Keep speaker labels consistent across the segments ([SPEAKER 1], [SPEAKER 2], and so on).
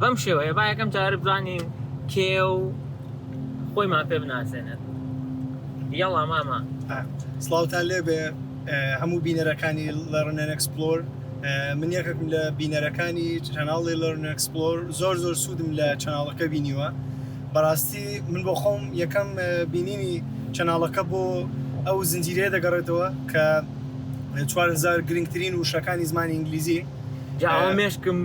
[SPEAKER 1] بەم شێوەیە با یەکەم جار بزانین کێیە و خۆیمان پێ بناسێنێت یەڵا مامە سڵاوتان
[SPEAKER 2] لێبێ هەموو بینەرەکانی لەڕنەن ئەکسپلۆر من یەکێکم لە بینەرەکانی چەناڵی لەرن ئەکسپلۆر زۆر زۆر سوودم لە چەناڵەکە بینیوە بەڕاستی من بۆ خۆم یەکەم بینینی چەناڵەکە بۆ ئەو زنجیرەیە دەگەڕێتەوە کە چوارهزار گرنگترین وشەکانی زمانی ئینگلیزی جا ئەوە
[SPEAKER 1] مێشکم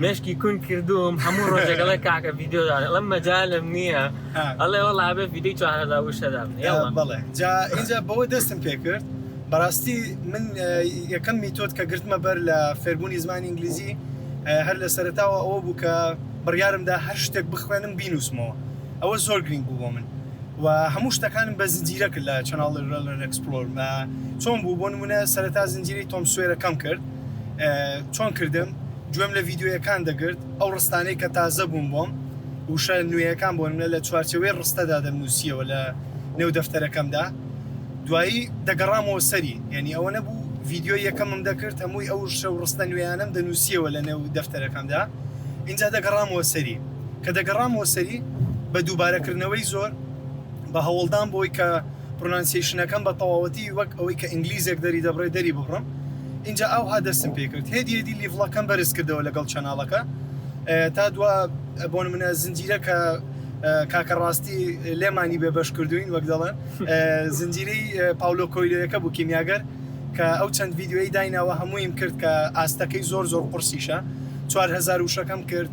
[SPEAKER 1] مێشکی کون کردوم هەموو ڕۆژێک ئەڵێ کاکە ڤیدیۆ دانێ ئەڵێم مەجالم نییە ها. ئەڵێ وەڵا بێ ڤیدیۆی 4000 وشە دابنێ آه، یەڵا بەڵێ جا
[SPEAKER 2] ئینجا بەوە دەستم پێ کرد بەڕاستی من اه، یەکەم میتۆد کە گرتمە بەر لە فێربوونی زمانی ئینگلیزی اه، هەر لە سەرەتاوە ئەوە بوو کە بڕیارم دا هەر شتێک بخوێنم بینووسمەوە ئەوە زۆر گرنگ بوو بۆ من و هەموو شتەکانم بە زنجیرە کرد لە چەناڵی رێلەن ئەکسپلۆر اه، چۆن بوو بۆ نمونە سەرەتا زنجیرەی تۆم سوێرەکەم کرد چۆن کردم گوێم لە ڤیدیۆیەکان دەگرت ئەو ڕستانەی کە تازە بوون بۆم وشە نوێیەکان بۆ منە لە چوارچەوەی ڕستەدا دەمنووسیەوە لە نێو دەفتەرەکەمدا دوایی دەگەڕامەوە سەری یعنی ئەوە نەبوو ڤیددیۆ یەکەمم دەکرد هەمووی ئەو شە و ڕستە نوێیانم دەنووسیەوە لە نێو دەفتەرەکەمدا اینجا دەگەڕامەوە سەری کە دەگەڕامەوە سەری بە دووبارەکردنەوەی زۆر بە هەوڵدان بۆی کە پرۆنانسیەیشنەکەم بە تەواوەتی وەک ئەوەی کە ئینگلیزێک دەری دەبڕێ دەری ببڕم ئینجا ئاوها دەستم پێ کرد هێدی هێدی لیڤڵەکەم بەرز کردەوە لەگەڵ چەناڵەکە تا دوا بۆ نمونە زنجیرە کە کاکە ڕاستی لێمانی بێ بەش کردوین وەک دەڵێن زنجیرەی پاولۆ کۆیلۆیەکە بوو کیمیاگەر کە ئەو چەند ڤیددیوی دایناوە هەموویم کرد کە ئاستەکەی زۆر زۆر قرسیشە 4هزار وشەکەم کرد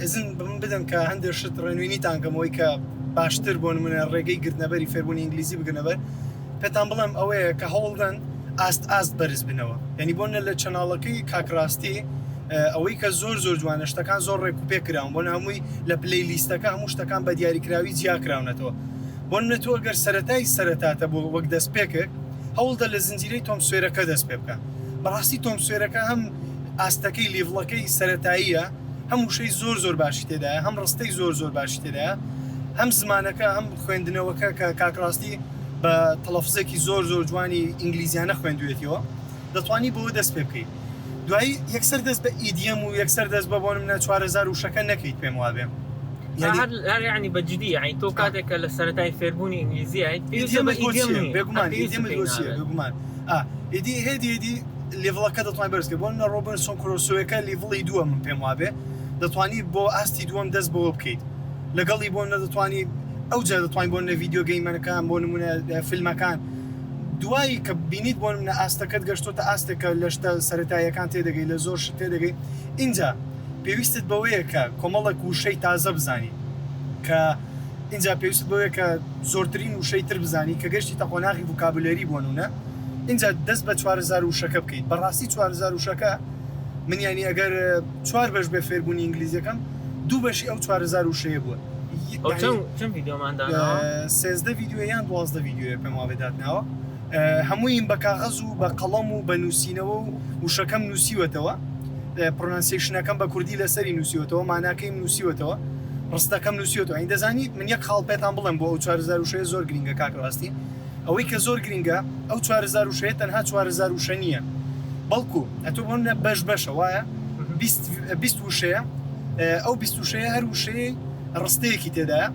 [SPEAKER 2] ئیزن بە من بدەن کە هەندێک شت ڕێنوێنیتان کەم ئەوەی کە باشتر بۆ نمونە ڕێگەی گرتنەبەری فێربوونی ئینگلیزی بگرنەبەر پێتان بڵێم ئەوەیە کە هەوڵدەن ئاست ئاست بەرز بنەوە یعنی بۆ نە لە چەناڵەکەی کاک ڕاستی ئەوەی کە زۆر زۆر جوانە شتەکان زۆر ڕێک و پێ کراون بۆن هەمووی لە پلەی لیستەکە هەموو شتەکان بە دیاریکراوی جیا کراونەتەوە بۆن نە تۆ گەر سەرەتای سەرەتاتە بۆ وەک دەست پێکرد هەوڵدە لە زنجیرەی تۆم سوێرەکە دەست پێ بکە بەڕاستی تۆم سوێرەکە هەم ئاستەکەی لیڤڵەکەی سەرەتاییە هەم وشەی زۆر زۆر باشی تێدایە هەم ڕستەی زۆر زۆر باشی تێدایە هەم زمانەکە هەم خوێندنەوەکە کە کاکڕاستی بە تەڵەفزێکی زۆر زۆر جوانی ئینگلیزیانە خوێندوێتیەوە دەتوانی بۆ دەست پێ بکەیت دوایی یەکسەر دەست بە ئیدیەم و یەکسەر دەست بە بۆن منە چوارەزار وشەکە نەکەیت پێم وابێ
[SPEAKER 1] ینی بەجددی ئەین تۆ کاتێکە لە سەرای فێربوونی ئینگلیزیایت
[SPEAKER 2] بێگومان ئیدی هێدی هێدی لیڤڵەکە دەتوانی بەرز کەی بۆ منە ڕۆبنسۆن کرۆسۆیەکە لیڤڵی دووە من پێم وابێ دەتوانی بۆ ئاستی دووەم دەست بەوە بکەیت لەگەڵی بۆ نەدەتوانی ئەو جا دەتوانین بۆ نە ڤیددیو گەیمەرەکان بۆ نمونە فیلمەکان دوایی کە بینیت بۆ منە ئاستەکەت گەشتۆتە ئاستێکە لە شتە سەتاییەکان تێدەگەی لە زۆر شت تێدەگەی اینجا پێویستت بەوەیە کە کۆمەڵک وشەی تازە بزانی کە اینجا پێویست بەوەیە کە زۆرترین وشەی تر بزانی کە گەشتی تەقۆناغی وکابلەری بۆ نمونە ئینجا دەست بە چوار هەزار وشەکە بکەیت بەڕاستی چوار هەزار وشەکە من یانی ئەگەر چوار بەش بێ فێربوونی ئینگلیزیەکەم دوو بەشی ئەو چوار هەزار وشەیە بووە یانی
[SPEAKER 1] سێزدە ڤیدیۆ یان دوازدە ڤیدیۆیە پێم وابێ داتناوە هەموویم بە کاغەز و بە قەڵەم و بە نووسینەوە و وشەکەم نووسیوەتەوە پرۆنانسیەیشنەکەم بە کوردی لەسەری نووسیوەتەوە ماناکەیم نووسیوەتەوە ڕستەکەم نووسیوەتەوە یانی دەزانیت من یەک خاڵ پێتان بڵێم بۆ ئەو چوار هەزار وشەیە زۆر گرینگە کاک ڕاستی ئەوەی کە زۆر گرنگە ئەو چوار هەزار وشەیە تەنها چوار هەزار وشە نییە بەڵکو ئەتۆ بۆ منە بەش بەشە وایە بیست بیست وشەیە ئەو بیست وشەیە هەر وشەیە ڕستەیەکی تێدایە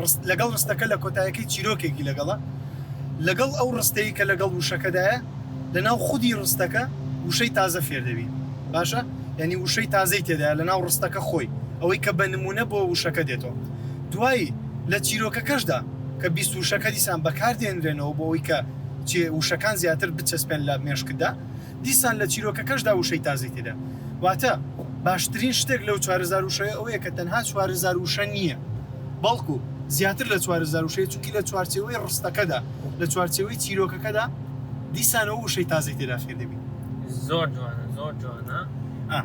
[SPEAKER 1] ڕست لەگەڵ ڕستەکە لە کۆتایەکەی چیرۆکێکی لەگەڵە لەگەڵ ئەو ڕستەیە کە لەگەڵ وشەکەدایە لەناو خودی ڕستەکە وشەی تازە فێر دەبی باشە یعنی وشەی تازەی تێدایە لەناو ڕستەکە خۆی ئەوەی کە بە نمونە بۆ وشەکە دێتەوە دوایی لە چیرۆکەکەشدا کە بیست وشەکە دیسان بەکار دێنرێنەوە بۆ ئەوەی کە چێ
[SPEAKER 2] وشەکان زیاتر بچەسپێن لە مێشکتدا دیسان لە چیرۆکەکەشدا وشەی تازەی تێدا واتە باشترین شتێک لەو چوار هەزار وشەیە ئەوەیە کە تەنها چوار هەزار وشە نییە بەڵکو زیاتر لە چوار هەزار وشەیە چونکی لە چوارچێوەی ڕستەکەدا لە چوارچێوەی چیرۆکەکەدا دیسان ئەو وشەی تازەی تێدا فێر دەبین. زۆر جوانە
[SPEAKER 3] زۆر جوانە. ئا.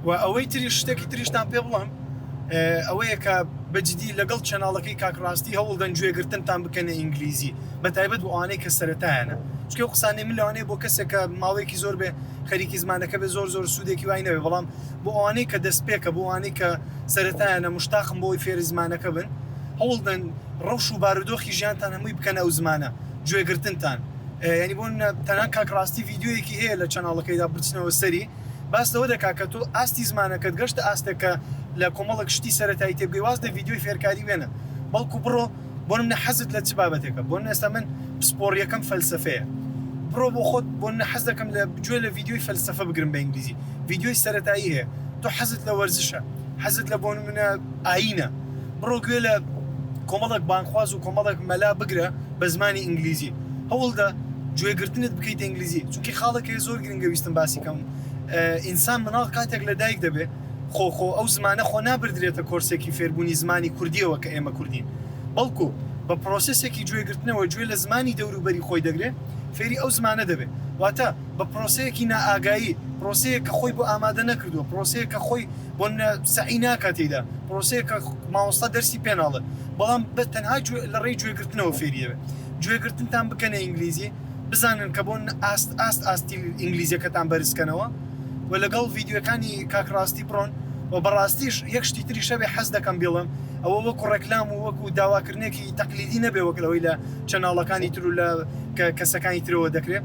[SPEAKER 2] وە ئەوەی تریش شتێکی تریشتان پێ بڵێم ئەوەیە کە بەجدی لەگەڵ چەناڵەکەی کاک ڕاستی هەوڵدەن گوێگرتنتان بکەنە ئینگلیزی بەتایبەت بۆ ئەوانەی کە سەرەتایانە چکە و قسانەی من لەوانەیە بۆ کەسێک کە ماوەیەکی زۆر بێ خەریکی زمانەکە بێ زۆر زۆر سوودێکی وای نەوێ بەڵام بۆ ئەوانەی کە دەست پێکە بۆ ئەوانەی کە سەرەتایانە مشتاقم بۆی فێری زمانەکە بن هەوڵدەن ڕەوش و بارودۆخی ژیانتان هەمووی بکەن ئەو زمانە گوێگرتنتان ینی بۆ تەنها کاک ڕاستی ڤیددیویەکی هەیە لە چەناڵەکەیدا بچنەوە سەری باس لەوە دەکات کە تۆ ئاستی زمانەکەت گەشتە ئاستێک کە لە کۆمەڵک شتی سەرەتایی تێبگەی واز لە ڤیدیۆی فێرکاری وێنە بەڵکو بڕۆ بۆ نمونە حەزت لە چ بابەتێکە بۆ نمونە ئێستا من پسپۆڕیەکەم فەلسەفەیە بڕۆ بۆ خۆت بۆ نمونە حەز دەکەم لە گوێ لە ڤیدیۆی فەلسەفە بگرم بە ئینگلیزی ڤیدیۆی سەرەتایی هەیە تۆ حەزت لە وەرزشە حەزت لە بۆ نمونە ئایینە بڕۆ گوێ لە کۆمەڵک بانگخواز و کۆمەڵک مەلا بگرە بە زمانی ئینگلیزی هەوڵدە گوێگرتنت بکەیتە ئینگلیزی چونکی خاڵێک هەیە زۆر گرنگە ویستم باسی کەم ئینسان مناڵ کاتێک لە دایک دەبێ خۆ خۆ ئەو زمانە خۆ نابردرێتە کۆرسێکی فێربوونی زمانی کوردیەوە کە ئێمە کوردین بەڵکو بە پرۆسسێکی گوێگرتنەوە گوێ لە زمانی دەوروبەری خۆی دەگرێ فێری ئەو زمانە دەبێ واتە بە پرۆسەیەکی نائاگایی پرۆسەیە کە خۆی بۆ ئامادە نەکردووە پرۆسەیە کە خۆی بۆ سەعی ناکاتیدا پرۆسەیە کە ماوەستا دەرسی پێناڵێ بەڵام بە تەنها لە ڕێی گوێگرتنەوە فێریەوە گوێگرتنتان بکەنە ئینگلیزی بزانن کە بۆن ئاست ئاست ئاستی ئینگلیزیەکەتان بەرز کەنەوە وە لەگەڵ ڤیدیۆکانی کاک ڕاستی بڕۆن وە بەڕاستیش یەک شتی تری شەبێ حەز دەکەم بیڵێم ئەوە وەکو ڕێکلام و وەکو داواکردنێکی تەقلیدی نەبێ وەک لەوەی لە چەناڵەکانی تر و لە کە کەسەکانی ترەوە دەکرێ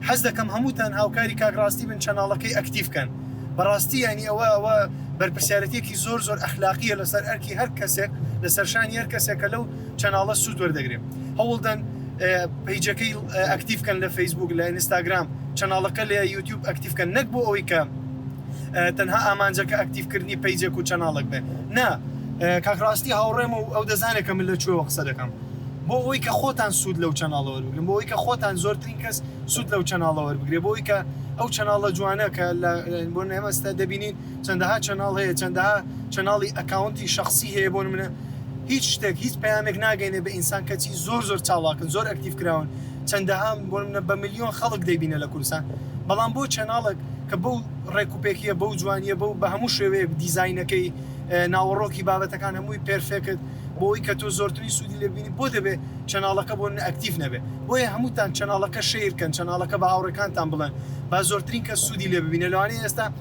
[SPEAKER 2] حەز دەکەم هەمووتان هاوکاری کاک ڕاستی بن چەناڵەکەی ئەکتیڤ کەن بەڕاستی یانی ئەوە ئەوە بەرپرسیارەتیەکی زۆر زۆر ئەخلاقیە لەسەر ئەرکی هەر کەسێک لەسەر شانی هەر کەسێکە لەو چەناڵە سوود وەردەگرێ هەوڵدەن پەیجەکەی ئەکتیف کەن لە فەیسبوک لە ئینستاگرام چەناڵەکە لە یوتیوب ئەکتیف کەن نەک بۆ ئەوەی کە تەنها ئامانجەکە ئەکتیفکردنی پەیجێک و چەناڵک بێ نا کاکڕاستی هاوڕێم و ئەو دەزانێکە من لە کوێوە قسە دەکەم بۆ ئەوەی کە خۆتان سوود لەو چەناڵە وەربگرن بۆ ئەوی کە خۆتان زۆرترین کەس سوود لەو چەناڵە وەربگرێ بۆی کە ئەو چەناڵە جوانە کە لە بۆ نێمەستە دەبینین چەندەها چەناڵ هەیە چەندەها چەناڵی ئەکاونتی شەخسی هەیە بۆ نمونە هیچ شتێک هیچ پەیامێک ناگەینێ بە ئینسان کەچی زۆر زۆر چاڵاکن زۆر ئەکتیڤ کراون چەندەها بۆ نمونە بە ملیۆن خەڵک دەیبینە لە کوردستان بەڵام بۆ چەناڵێک کە بەو ڕێک و پێکیە بەو جوانیە بەو بە هەموو شێوەیەک دیزاینەکەی ناوەڕۆکی بابەتەکان هەمووی پێرفێکت بۆی کە تۆ زۆرترین سوودی لێ بینی بۆ دەبێ چەناڵەکە بۆ نە ئەکتیڤ نەبێ بۆیە هەمووتان چەناڵەکە شەیرکەن چەناڵەکە بە هاوڕێکانتان بڵێن با زۆرترین کەس سوودی لێ ببینێ لەوانەیە ئێستا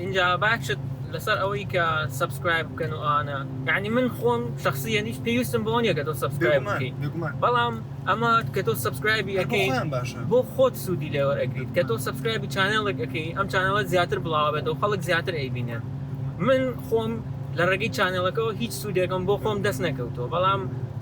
[SPEAKER 3] ئینجا باکشت لەسەر ئەوەی کە سەبسکرایب بکەن و ئەوانە یانی من خۆم شخصیەن هیچ پێویستم بەوە نییە کە تۆ سەبسکرایب بکەیت بەڵام ئەمە کە تۆ سەبسکرایبی ئەەکەیان باشە بۆ خۆت سوودی لێوە ئەگریت کە تۆ سەبسکرایبی چانێڵێک ئەەکەی ئەم چانەوە زیاتر بڵاوێت و خەڵک زیاتر ئەیبینێت من خۆم لە ڕێگەی چانێڵەکەەوە هیچ سوودێکم بۆ خۆم دەست نەکەوتەوە بەڵام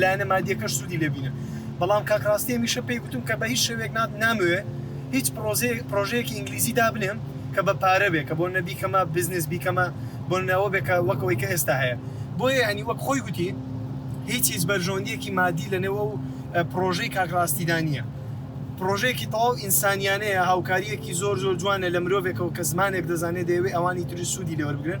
[SPEAKER 2] لایەنە مادیەکەش سودی لێ بینن بەڵام کاک ڕاستی هەمیشە پێی گوتم کە بە هیچ شێوێک نات ناموێ هیچ پرۆزەیەک پرۆژەیەکی ئینگلیزی دابنێم کە بە پارە بێ کە بۆ نەبی کەمە بزنس بیکەمە بۆ ناوە بێ کە وەک ئەوەی کە ئێستا هەیە بۆیە ینی وەک خۆی گوتی هیچ هیچ بەرژەوەندیەکی مادی لە نێوە و پرۆژەی کاک ڕاستیدا نییە پرۆژەیەکی تەواو ئینسانیانەیە هاوکاریەکی زۆر زۆر جوانە لە مرۆڤێکەوە کە زمانێک دەزانێت دەیەوێ ئەوانی تری سوودی لێوەربگرن